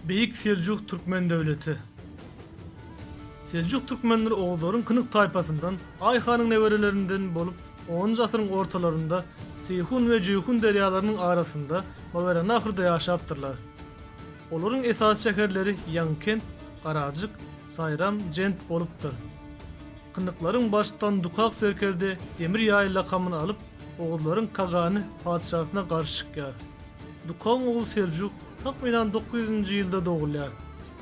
Beýik Seljuk türkmen döwleti. Seljuk türkmenleri oguzlaryň kynyk taýpasyndan, Aý hanyň neberelerinden bolup, onunjy asyryň ortalarynda Seýhun we Jeýhun derýalarynyň arasynda Mawerannahyrda ýaşapdyrlar. Olaryň esasy şäherleri Ýaňykent, Garajyk, Saýram, Jent bolupdyr. Kyndyklaryň baştutan Dukak serkerde Demir ýaý lakamyny alyp, oguzlaryň kagany, patyşasyna garşy çykýar. Dukagyň ogly Seljuk, takmynan dokuz ýüzünji ýylda dogulýar.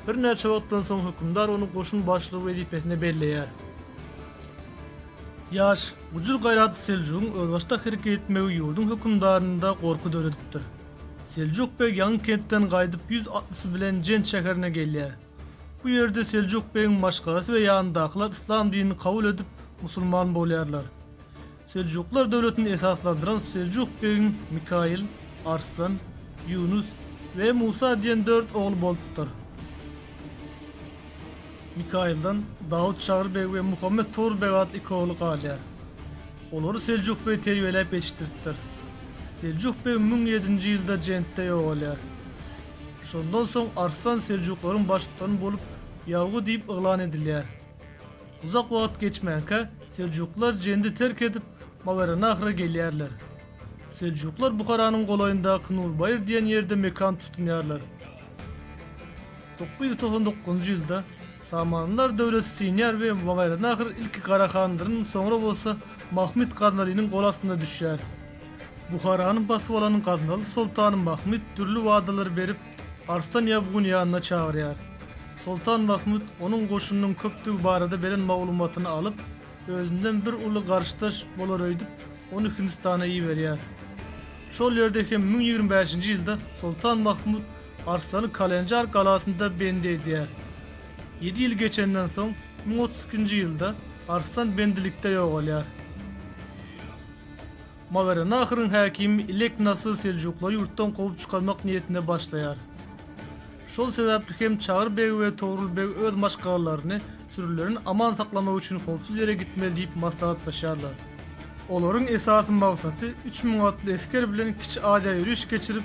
Birnäçe wagtdan soň hökümdar ony goşun başlygy wezipesine belleýär. Ýaş, gujur-gaýratly Seljugyň özbaşdak hereket etmegi ýurduň hökümdarynda gorky döredipdir. Seljuk beg Ýaňy kentden gaýdyp ýüz atlysy bilen Jent şäherine gelýär. Bu ýerde Seljuk begiň maşgalasy we ýanyndakylar yslam dinini kabul edip, musulman bolýarlar. Seljuklar döwletini esaslandyran Seljuk begiň Mikaýyl, Arslan, Ýunus we Musa diýen dört ogly bolupdyr. Mikaýyldan Dawut Şagry beg we Muhammet Togry beg atly iki ogly galýar. Olary Seljuk beg terbiýeläp ýetişdiripdir. Seljuk beg müň ýedinji ýylda Jentde ýogalýar. Şondan soň Arslan seljuklaryň baştutany bolup Ýawgy diýip yglan edilýär. Uzak wagt geçmänkä seljuklar Jendi terk edip Maweranahra gelýärler. Seljuklar Buharanyň golaýyndaky Nurbaýyr diýen ýerde mekan tutunýarlar. Dokuz ýüz togsan dokuzynjy ýylda Samanlylar döwleti synýar we wagaýranahyr ilki Gara handyryn, soňra bolsa Mahmyt Gaznalynyň gol astynda düşýär. Buharany basyp alan Gaznaly soltany Mahmyt dürli wadalary berip, Arslan Ýabguny ýanyna çagyrýar. Soltan Mahmyt onuň goşunynyň köpdügi barada beren maglumatyny alyp, özünden bir uly garyşdaş bolaröýdüp, ony Hindistana iberýär. Şol ýerde hem müň ýigrimi bäşinji ýylda soltan Mahmyt Arslan Kalenjar galasynda bendi edýär. Ýedi ýyl geçenden soň, müň otuz ikinji ýylda Arslan bendilikde ýogalýar. Mawerannahyryň häkimi Ilek Nasyr seljuklary ýurtdan kowup çykarmak niýetine başlaýar. Şol sebäpli hem Çagyr beg we Togrul beg öz maşgalalaryny sürülerini aman saklamak üçin howpsuz ýere gitmeli diýip maslahatlaşýarlar. Olaryň esasy magsaty üç müň atly esger bilen Kiçi Aziýa ýöriş geçirip,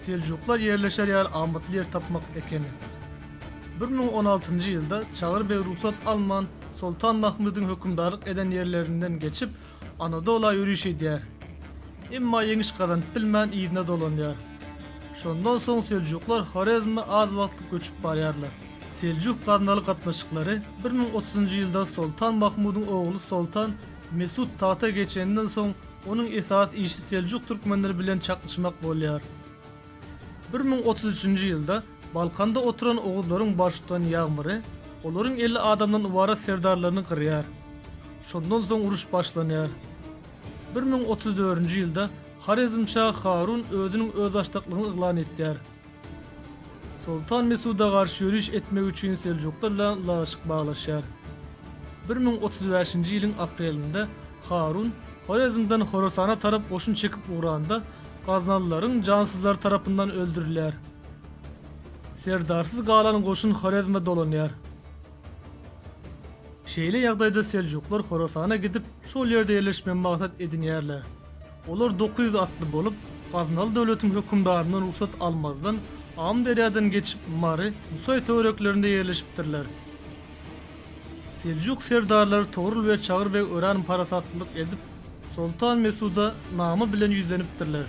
seljuklar ýerleşer ýaly amatly ýer tapmak ekeni. Bir müň on altynjy ýylda Çagyr beg rugsat alman Soltan Mahmydyň hökümdarlyk eden ýerlerinden geçip, Anadola ýöriş edýär. Emma ýeňiş gazanyp bilmän yzyna dolanýar. Şondan soň Seljuklar Horezme az wagtlyk göçüp barýarlar. Seljuk-Gaznaly gatnaşyklary bir müň otuzynjy ýylda Soltan Mahmudyň ogly Soltan Mesut tagta geçenden soň onuň esasy işi Seljuk türkmenleri bilen çaknyşmak bolýar. Bir müň otuz üçünji ýylda Balkanda oturan oguzlaryň baş tutan ýagmyry olaryň elli adamdan ybarat serdarlaryny gyrýar. Şondan soň uruş başlanýar. Bir müň otuz dördünji ýylda Horezmşa Harun özüniň özbaşdaklygyny yglan etýär. Soltan Mesuda garşy ýöriş etmek üçin seljuklar bilen ylalaşyk baglaşýar. Bir müň otuz bäşinji ýylyň aprelinde Harun Horezmden Horasana tarap goşun çekip ugranda, Gaznalylaryň jansyzlary tarapyndan öldürilýär. Serdarsyz galan goşun Horezme dolanýar. Şeýle ýagdaýda seljuklar Horasana gidip, şol ýerde ýerleşmegi maksat edinýärler. Olar dokuz ýüz atly bolup, Gaznaly döwletiň hökümdaryndan rugsat almazdan, Amyderýadan geçip, Mary, Nusaý töwereklerinde ýerleşipdirler. Seljuk serdarlary Togrul we Çagyr beg örän parasatlylyk edip, soltan Mesuda name bilen ýüzlenipdirler.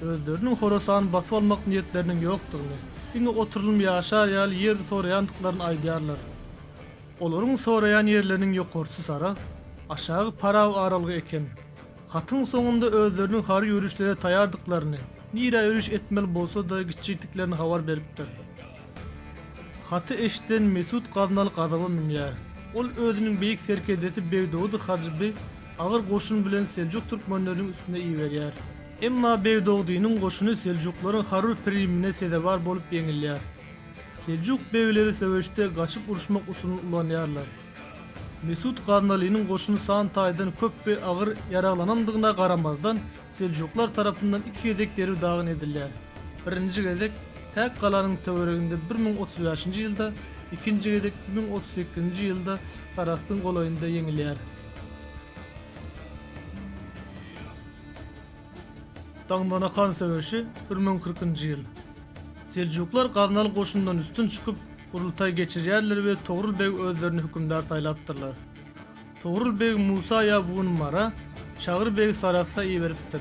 Özleriniň Horasany basyp almak niýetleriniň ýokdugyny, diňe oturylymy ýaşar ýaly ýer soraýandyklaryny aýdýarlar. Olaryň soraýan ýerleriniň ýokarsy Sarahs, aşagy Paraw aralygy eken. Hatyň soňunda özleriniň harby ýörişlere taýardyklaryny, nirä ýöriş etmeli bolsa-da gitjekdiklerini habar beripdir. Haty eşiden Mesut Gaznaly gazaba münýär. Ol özüniň beýik serkerdesi Begdogdy Hajyby agyr goşun bilen seljuk türkmenleriniň üstüne iberýär. Emma Begdogdynyň goşuny seljuklaryň harby primine sezewar bolup ýeňilýär. Seljuk begleri söweşde gaçyp uruşmak usulyny ulanýarlar. Mesut Gaznalynyň goşuny san taýdan köp we agyr ýaraglanandygyna garamazdan, Seljuklar tarapyndan iki gezek derw dagyn edilýär. Birinji gezek Täk galanyň töwereginde bir müň otuz bäşinji ýylda, ikinji gezek müň otuz sekizinji ýylda Sarahsyň golaýynda ýeňilýär. Daňdanakan söweşi, bir müň kyrkynjy ýyl. Seljuklar Gaznaly goşundan üstün çykyp, gurultaý geçirýärler we Togrul beg özlerini hökümdar saýlapdyrlar. Togrul beg Musa Ýabgun Mara, Çagry begi Sarahsa iberipdir.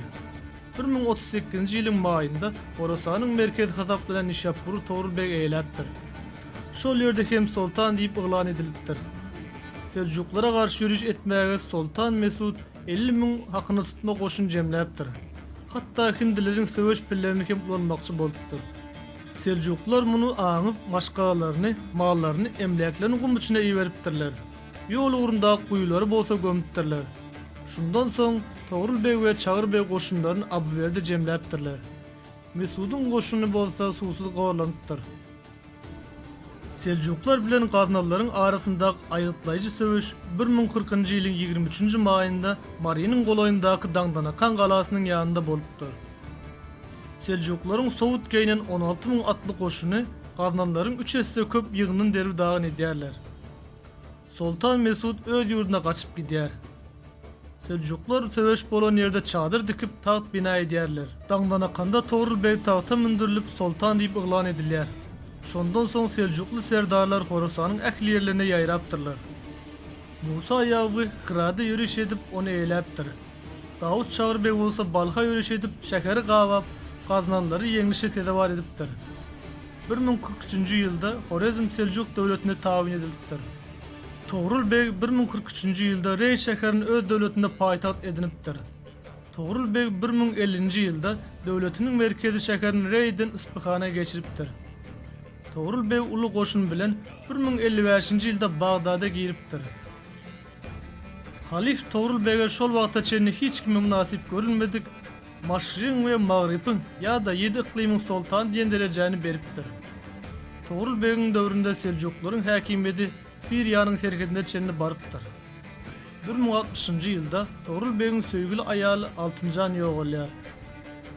Bir müň otuz sekizinji ýylyň maýynda Horasanyň merkezi hasaplanan Nişapbury Togrul beg eýeläpdir. Şol ýerde hem soltan diýip yglan edilipdir. Seljuklara garşy ýöriş etmäge soltan Mesut elli müň hakyna tutma goşun jemläpdir. Hatda hindileriň söweş pillerini hem ulanmakçy bolupdyr. Seljuklar muny aňyp, maşgalalaryny, mallaryny, emläklerini gum içine iberipdirler. Ýol ugrundaky guýulary bolsa gömüpdirler. Şundan soň Togrul beg we Çagyr beg goşunlaryny Abywerde jemläpdirler. Mesudyň goşuny bolsa suwsuz gorlanypdyr. Seljuklar bilen gaznalylaryň arasyndaky aýgytlaýjy söweş bir müň kyrkynjy ýylyň ýigrimi üçünji maýynda Marynyň golaýyndaky Daňdanakan galasynyň ýanynda bolupdyr. Seljuklaryň sowut geýnen on alty müň atly goşuny gaznalylaryň üç esse köp ýygyndyny derbi-dagyn edýärler. Soltan Mesut öz ýurduna gaçyp gidýär. Seljuklar söweş bolan ýerde çadyr dikip, tagt bina edýärler. Daňdanakanda Togrul beg tagta mündürilip, soltan diýip yglan edilýär. Şondan soň seljukly serdarlar Horasanyň ähli ýerlerine ýaýrapdyrlar. Musa Ýagby Hyrada ýöriş edip, ony eýläpdir. Dawut Çagry beg bolsa Balha ýöriş edip, şäheri gabap, gaznanlary ýeňlişe sezewar edipdir. Bir müň kyrk üçünji ýylda Horezm Seljuk döwletine tabyn edilipdir. Togrul beg bir müň kyrk üçünji ýylda Reý şäherini öz döwletinde paýtagt edinipdir. Togrul beg bir müň ellinji ýylda döwletiniň merkezi şäherini Reýden Yspyhana geçiripdir. Togrul beg uly goşun bilen bir müň elli bäşinji ýylda Bagdada giripdir. Halyf Togrul bege şol wagta çenli hiç kime mynasyp görülmedik, Maşrygyň we Magrybyň ýa-da ýedi yklymyň soltany diýen derejäni beripdir. Togrul begiň döwründe seljuklaryň häkimiýeti Siriýanyň serhedine çenli barypdyr. Bir müň altmyşynjy ýylda Togrul begiň söýgüli aýaly Altynjan ýogalýar.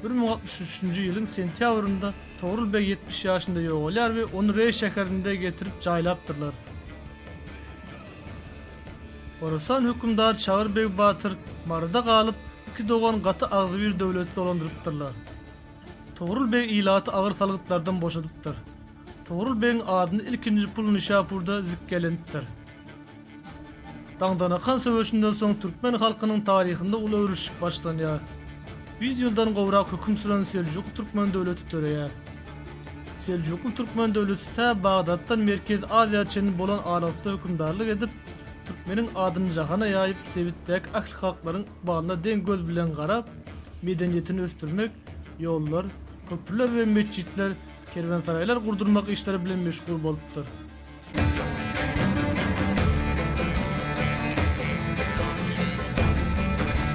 Bir müň altmyş üçünji ýylyň sentýabrynda Togrul beg ýetmiş ýaşynda ýogalýar we ony Reý şäherinde getirip jaýlapdyrlar. Horasan hökümdar Çagyr beg batyr Maryda galyp, iki dogan gaty agzybir döwleti dolandyrypdyrlar. Togrul beg ilaty agyr salgytlardan boşadypdyr. Togrul begiň adyny ilkinji pul Nişapurda zikgelenipdir. Daňdanakan söweşinden soň türkmen halkynyň taryhynda uly öwrülişik başlanýar. Ýüz ýyldan gowrak höküm süren Seljuky türkmen döwleti döreýär. Seljukly türkmen döwleti tä Bagdatdan Merkezi Aziýa çenli bolan aralykda hökümdarlyk edip, türkmeniň adyny jahana ýaýyp, sebitdäki ähli halklaryň ykbalyna deň göz bilen garap, medeniýetini ösdürmek, ýollar, köprüler we metjitler, kerwensaraýlar gurdurmak işleri bilen meşgul bolupdyr.